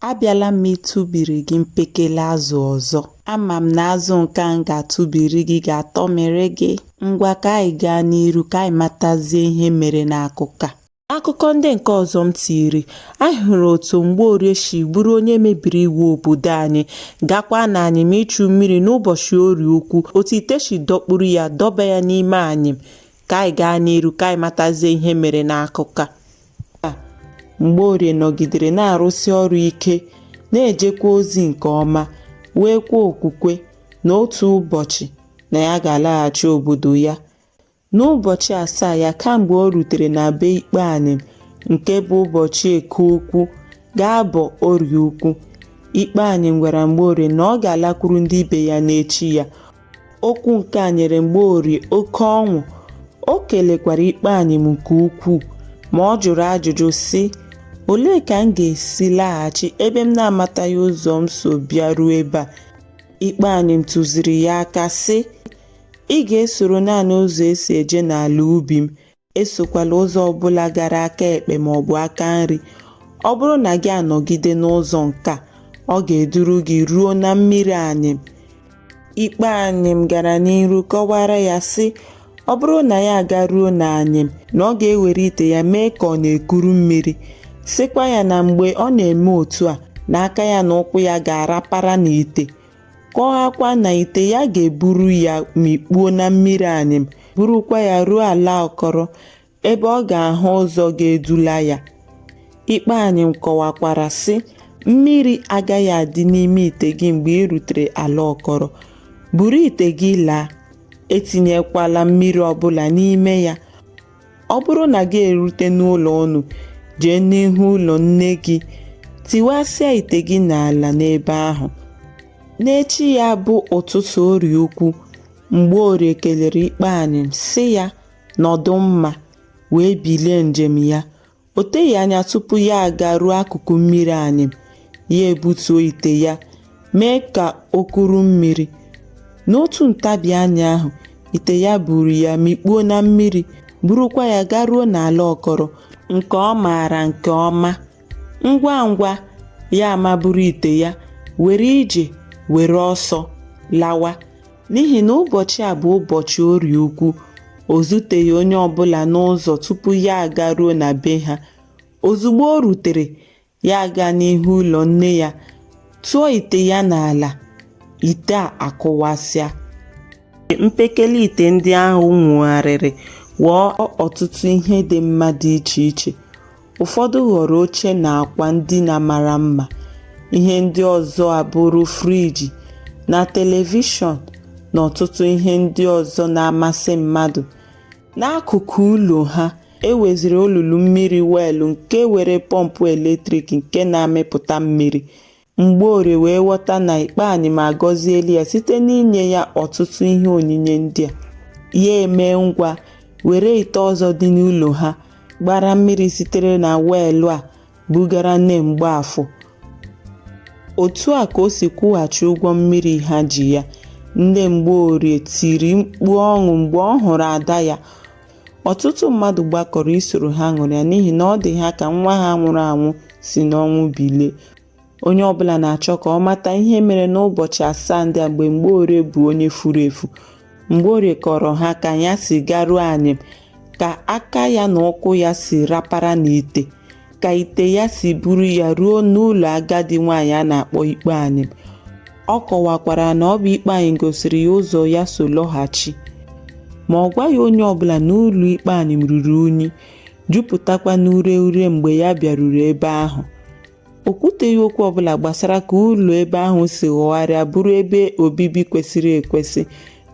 Abịala m ịtụbiri gị mpekele azụ ọzọ. Ama m na azụ nke a m ga-atụbiri gị ga-atọmịrị gị. Ngwa ka anyị gaa n'iru ka anyị matazie ihe mere n'akụkọ a. Akụkọ ndị nke ọzọ m tiri, anyị hụrụ otu Mgbeorie si bụrụ onye mebiri iwu obodo anyị, gakwa na anyịm ịchụ mmiri n'ụbọchị Orie Ukwu, otu ite si dọkpuru ya dọba ya n'ime anyịm. ka anyị gaa n'iru ka anyị matazie ihe mere n'akụkọ a mgbeorie nọgidere na-arụsi ọrụ ike na-ejekwa ozi nke ọma nweekwa okwukwe na otu ụbọchị na ya ga-alaghachi obodo ya n'ụbọchị asaa ya kamgbe o rutere na be ikpe anyịm nke bụ ụbọchị eke ukwu ga-abọ orie ukwu ikpe anyịm gwara mgbeorie na ọ ga-alakwuru ndị ibe ya n'echi ya Okwu nke a nyere Mgbeorie oke ọṅụ, o kelekwara ikpe anyịm nke ukwuu, ma ọ jụrụ ajụjụ sị, Olee ka m ga-esi laghachi ebe m na-amataghị ụzọ m so bịaruo ebe a? Ikpe anyịm tụziri ya aka sị, Ị ga-esoro naanị ụzọ e si eje n'ala ubi m, Esokwala ụzọ ọ bụla gara aka ekpe ma ọ bụ aka nri. Ọ bụrụ na gị anọgide n'ụzọ nke a, ọ ga-eduru gị ruo na mmiri anyịm. Ikpe anyịm gara n'iru kọwara ya sị, ọ bụrụ na ya agaruo na anyịm, na ọ ga-ewere ite ya mee ka ọ na-ekuru mmiri, sịkwa ya na mgbe ọ na-eme otu a, na aka ya na ụkwụ ya ga-arapara n'ite. kọwakwa na ite ya ga-eburu ya mikpuo na mmiri anyịm burukwa ya ruo ala ọkọrọ ebe ọ ga-ahụ ụzọ ga-edula ya ikpe anyịm kọwakwara sị mmiri agaghị adị n'ime ite gị mgbe ị rutere ala ọkọrọ buru ite gị laa etinyekwala mmiri ọbụla n'ime ya ọ bụrụ na gị erute n'ụlọ unu jee n'ihu ụlọ nne gị tiwasịa ite gị n'ala n'ebe ahụ n'echi ya bụ ụtụtụ orie ukwu mgbeorie kelere ikpe anyịm sị ya nọdụ mma wee bilie njem ya O teghị anya tupu ya agaruo akụkụ mmiri anyịm, ya ebutuo ite ya mee ka o kuru mmiri. N'otu ntabi anya ahụ, ite ya buru ya mikpuo na mmiri, burukwa ya garuo n'ala ọkọrọ nke ọ maara nke ọma. Ngwa ngwa, ya amaburu ite ya, were ije, were ọsọ lawa. n'ihi na ụbọchị a bụ ụbọchị orie ukwu o zuteghị onye ọbụla n'ụzọ tupu ya agaruo na be ha ozugbo o rutere ya aga n'ihu ụlọ nne ya tụọ ite ya n'ala ite a akụwasịa mpekele ite ndị ahụ nwugharịrị ghọọ ọtụtụ ihe dị mma dị iche iche Ụfọdụ ghọrọ oche na akwa ndina mara mma, ihe ndị ọzọ abụrụ friji na telivishọn na ọtụtụ ihe ndị ọzọ na-amasị mmadụ. N'akụkụ ụlọ ha, e nweziri olulu mmiri weelụ nke nwere pọmpụ eletrik nke na-amịpụta mmiri. Mgborie wee ghọta na Ikpe Anyịm agọziela ya site n'inye ya ọtụtụ ihe onyinye ndị a. Ya emee ngwa were ite ọzọ dị n'ụlọ ha gbara mmiri sitere na weelụ a bugara nne Mgbaafọ. Otu a ka o si kwụghachi ụgwọ mmiri ha ji ya. Nne Mgborie tiri mkpu ọṅụ mgbe ọ hụrụ ada ya. Ọtụtụ mmadụ gbakọrọ isoro ha ṅụrịa n'ihi na ọ dị ha ka nwa ha nwụrụ anwụ si n'ọnwụ bilie. Onye ọbụla na-achọ ka ọ mata ihe mere n'ụbọchị asaa ndị a mgbe Mgborie bụ onye furu efu. Mgborie kọọrọ ha ka ya si garuo anyịm, ka aka ya na ụkwụ ya si rapara n'ite, ka ite ya si buru ya ruo n'ụlọ agadi nwaanyị a na-akpọ Ikpe Anyịm. Ọ kọwakwara na ọ bụ Ikpe Anyịm gosiri ya ụzọ ya so lọghachi. Ma ọ gwaghị onye ọbụla na ụlọ Ikpe Anyịm ruru unyi. jupụtakwa n'ure ure mgbe ya bịaruru ebe ahụ o kwuteghị okwu ọbụla gbasara ka ụlọ ebe ahụ si ghọgharịa bụrụ ebe obibi kwesịrị ekwesị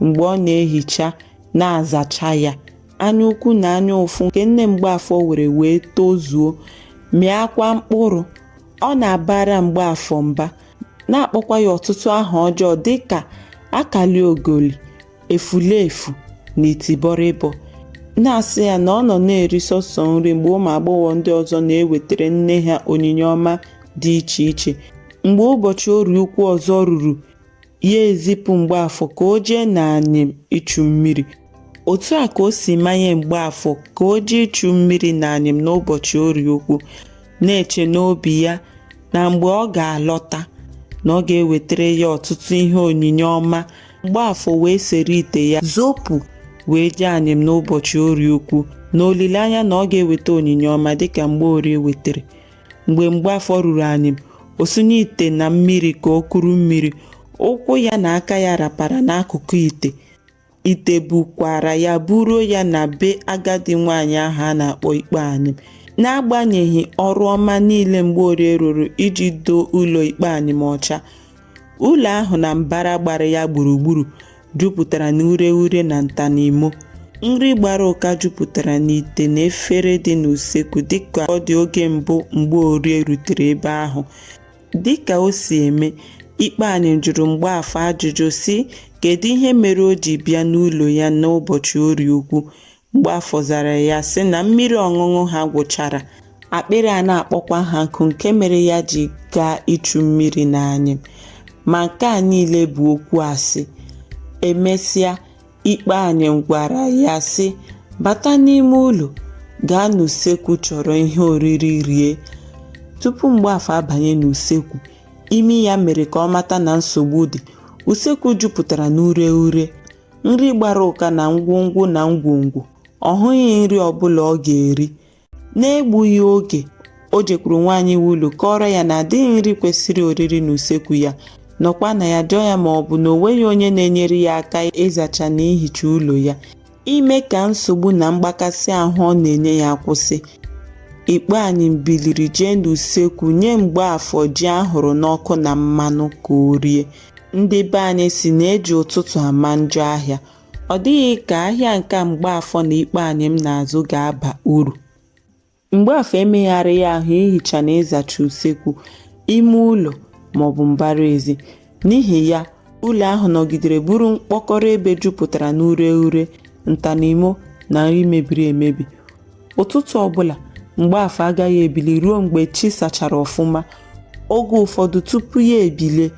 mgbe ọ na-ehicha na-azacha ya anya ukwu na anya ụfụ nke nne mgbaafọ nwere wee tozuo mịakwa mkpụrụ ọ na-abara mgbaafọ mba na-akpọkwa ya ọtụtụ aha ọjọọ dịka akaliogoli efulefu na itibọrịbọ na-asị ya na ọ nọ na-eri sọsọ nri mgbe ụmụ agbọghọ ndị ọzọ na-ewetara nne ha onyinye ọma dị iche iche mgbe ụbọchị orie ukwu ọzọ ruru ya ezipụ mgbaafọ ka o jee n'anyịm ichu mmiri otu a ka o si manye mgbaafọ ka o jee ichu mmiri n'anyịm n'ụbọchị orie ukwu na-eche n'obi ya na mgbe ọ ga-alọta na ọ ga-ewetara ya ọtụtụ ihe onyinye ọma Mgbaafọ wee sere ite ya zọpụ wee jee anyịm n'ụbọchị orie ukwu n'olileanya na ọ ga-eweta onyinye ọma dịka mgborie wetara mgbe mgbaafọ ruru anyịm o sunye ite na mmiri ka o kuru mmiri ụkwụ ya na aka ya rapara n'akụkụ ite ite bukwara ya buruo ya na be agadi nwaanyị ahụ a na-akpọ ikpe anyịm n'agbanyeghị ọrụ ọma niile mgborie rụrụ iji doo ụlọ ikpe anyịm ọcha Ụlọ ahụ na mbara gbara ya gburugburu jupụtara n'ureghure na nta na imo. Nri gbara ụka jupụtara n'ite na efere dị n'usekwu dịka ọ dị oge mbụ Mgborie rutere ebe ahụ. Dịka o si eme, Ikpe Anyịm jụrụ Mgbaafọ ajụjụ sị kedu ihe mere o ji bịa n'ụlọ ya n'ụbọchị Orie Ukwu. Mgbafọ zara ya sị na mmiri ọṅụṅụ ha gwụchara, akpịrị a na-akpọkwa ha nkụ nke mere ya ji gaa ịchụ mmiri n'anyịm. Ma nke a niile bụ okwu asị. Emesịa, Ikpe Anyịm gwara ya sị, bata n'ime ụlọ, gaa n'usekwu chọrọ ihe oriri rie. Tupu Mgbafọ abanye n'usekwu, imi ya mere ka ọ mata na nsogbu dị. Usekwu jupụtara n'ureghure. nri gbara ụka na ngwongwo na ngwongwo ọ hụghị nri ọbụla ọ ga-eri n'egbughị oge o jekwuru nwaanyị nwe ụlọ kọọrọ ya na adịghị nri kwesịrị oriri n'usekwu ya nọkwa na ya jụọ ya ma ọ bụ na o nweghị onye na-enyere ya aka ịzacha na ihicha ụlọ ya ime ka nsogbu na mgbakasị ahụ ọ na-enye ya kwụsị ikpe anyịm biliri jee n'usekwu nye mgbaafọ ji a hụrụ n'ọkụ na mmanụ ka o rie Ndị be anyị sị na e ji ụtụtụ ama njọ ahịa. Ọ dịghị ka ahịa nke Mgbaafọ na Ikpe Anyịm na-azụ ga-aba uru. Mgbaafọ emegharịghị ahụ ihicha na ịzacha usekwu, ime ụlọ maọbụ mbara ezi. N'ihi ya, ụlọ ahụ nọgidere bụrụ mkpọkọrọ ebe jupụtara n'ureghure, nta na imo na nri mebiri emebi. ụtụtụ ọbụla mgbaafọ agaghị ebili ruo mgbe chi sachara ọfụma oge ụfọdụ tupu ya ebilie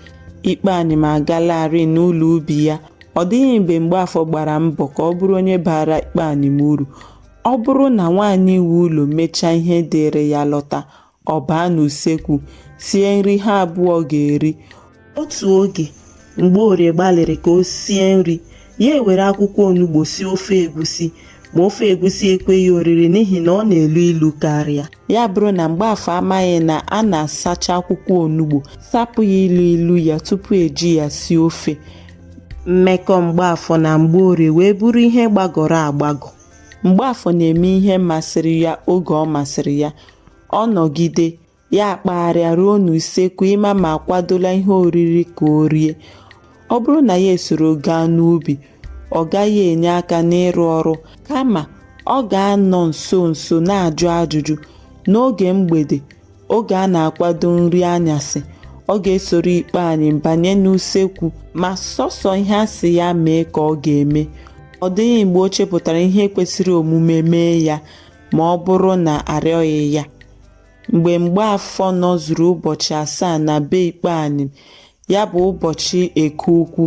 ikpe anyịm agalarị n'ụlọ ubi ya ọ dịghị mgbe mgbaafọ gbara mbọ ka ọ bụrụ onye baara ikpe anyịm uru ọ bụrụ na nwaanyị nwe ụlọ mechaa ihe dịịrị ya lọta ọ baa n'usekwu sie nri ha abụọ ga-eri otu oge mgbaorie gbalịrị ka o sie nri ya ewere akwụkwọ onugbo sie ofe egusi ma ofe egusi ekweghị oriri n'ihi na ọ na-elu ilu karịa ya abụrụ na mgbaafọ amaghị na a na-asacha akwụkwọ onugbo sapụ ya ilu ilu ya tupu e ji ya sie ofe mmekọ mgbaafọ na mgbaorie wee bụrụ ihe gbagọrọ agbagọ Mgbaafọ na-eme ihe masịrị ya oge ọ masịrị ya, ọ nọgide, ya akpagharịa ruo n'usekwu ịma ma a kwadola ihe oriri ka o rie. Ọ bụrụ na ya esoro gaa n'ubi, ọ gaghị enye aka n'ịrụ ọrụ, kama ọ ga-anọ nso nso na-ajụ ajụjụ. N'oge mgbede, Oge a na-akwado nri anyasị, ọ ga-esoro Ikpe Anyịm banye n'usekwu ma sọsọ ihe a sị ya mee ka ọ ga-eme. Ọ dịghị mgbe o chepụtara ihe kwesịrị omume mee ya ma ọ bụrụ na a rịọghị ya. Mgbe Mgbaafọ nọzuru ụbọchị asaa na be Ikpe Anyịm, ya bụ ụbọchị eke ukwu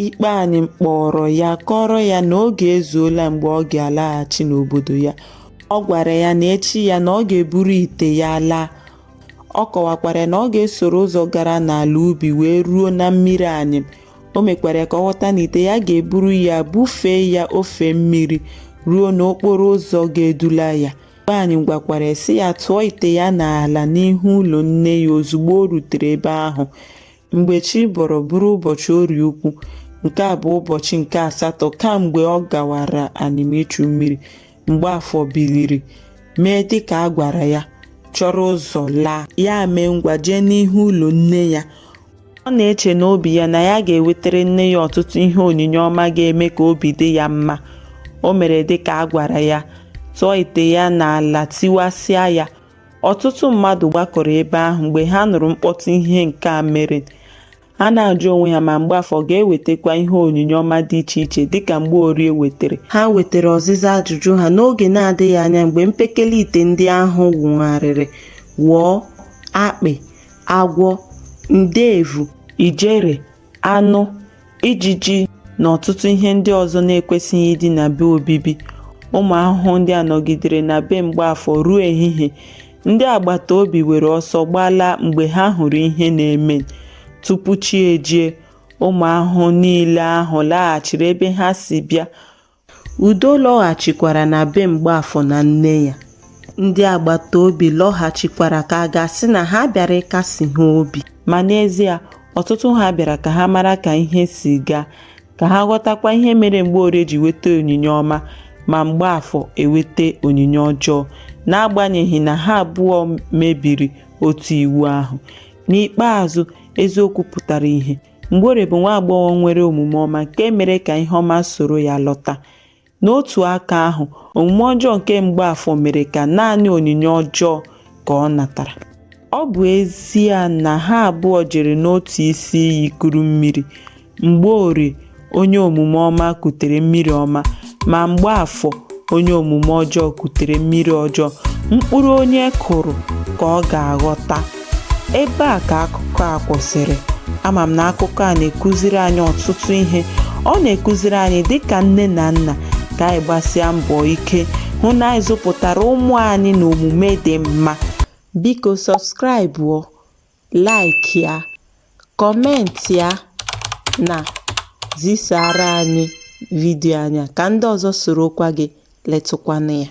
ikpe anyịm kpọrọ ya kọrọ ya na oge ezuola mgbe ọ ga-alaghachi n'obodo ya ọ gwara ya na echi ya na ọ ga-eburu ite ya laa ọ kọwakwara na ọ ga-esoro ụzọ gara n'ala ubi wee ruo na mmiri anyịm o mekwara ka ọ ghọta na ite ya ga-eburu ya bufee ya ofe mmiri ruo n'okporo ụzọ ga-edula ya Ikpe Anyịm gwakwara ya sị ya tụọ ite ya n'ala n'ihu ụlọ nne ya ozugbo o rutere ebe ahụ. Mgbe chi bọrọ bụrụ ụbọchị orie ukwu, nke a bụ ụbọchị nke asatọ kamgbe ọ gawara Anyịm ichu mmiri, Mgbaafọ biliri mee dịka a gwara ya, chọrọ ụzọ laa. Ya mee ngwa jee n'ihu ụlọ nne ya. Ọ na-eche n'obi ya na ya ga-ewetara nne ya ọtụtụ ihe onyinye ọma ga-eme ka obi dị ya mma. O mere dị ka a gwara ya, tụọ ite ya n'ala tiwasịa ya. Ọtụtụ mmadụ gbakọrọ ebe ahụ mgbe ha nụrụ mkpọtụ ihe nke a mere. Ha na-ajụ onwe ha ma Mgbaafọ ga-ewetakwa ihe onyinye ọma dị iche iche dịka Mgborie wetara. Ha wetara ọzịza ajụjụ ha n'oge na-adịghị anya mgbe mpekele ite ndị ahụ wụgharịrị ghọọ akpị. agwọ nde evu ijere aṅụ ijiji na ọtụtụ ihe ndị ọzọ na-ekwesịghị ịdị n'ebe obibi ụmụ ahụhụ ndị a nọgidere na be mgbaafọ ruo ehihie ndị agbata obi were ọsọ gbalaa mgbe ha hụrụ ihe na-eme tupu chi ejie ụmụ ahụhụ niile ahụ laghachiri ebe ha si bịa Udo lọghachikwara na be Mgbaafọ na nne ya. Ndị agbata obi lọghachikwara ka a ga-asị na ha bịara ịkasi ha obi. Ma n'ezie, ọtụtụ ha bịara ka ha mara ka ihe si gaa, ka ha ghọtakwa ihe mere Mgborie ji weta onyinye ọma ma Mgbaafọ eweta onyinye ọjọọ, n'agbanyeghị na ha abụọ mebiri otu iwu ahụ. N'ikpeazụ, eziokwu pụtara ihe. Mgborie bụ nwa agbọghọ nwere omume ọma nke mere ka ihe ọma soro ya lọta. N'otu aka ahụ, omume ọjọọ nke Mgbaafọ mere ka naanị onyinye ọjọọ ka ọ natara. Ọ bụ ezie na ha abụọ jere n'otu isi iyi kuru mmiri, Mgborie onye omume ọma kutere mmiri ọma ma mgbaafọ onye omume ọjọọ kutere mmiri ọjọọ mkpụrụ onye kụrụ ka ọ ga-aghọta ebe a ka akụkọ a kwụsịrị ama m na akụkọ a na-ekụziri anyị ọtụtụ ihe ọ na-ekụziri anyị dịka nne na nna ka anyị gbasịa mbọ ike hụ na anyị zụpụtara ụmụ anyị na omume dị mma biko sọbskraịbụọ like ya, comment ya na zisara anyị video anyị a ka ndị ọzọ sorokwa gị letụkwa anya.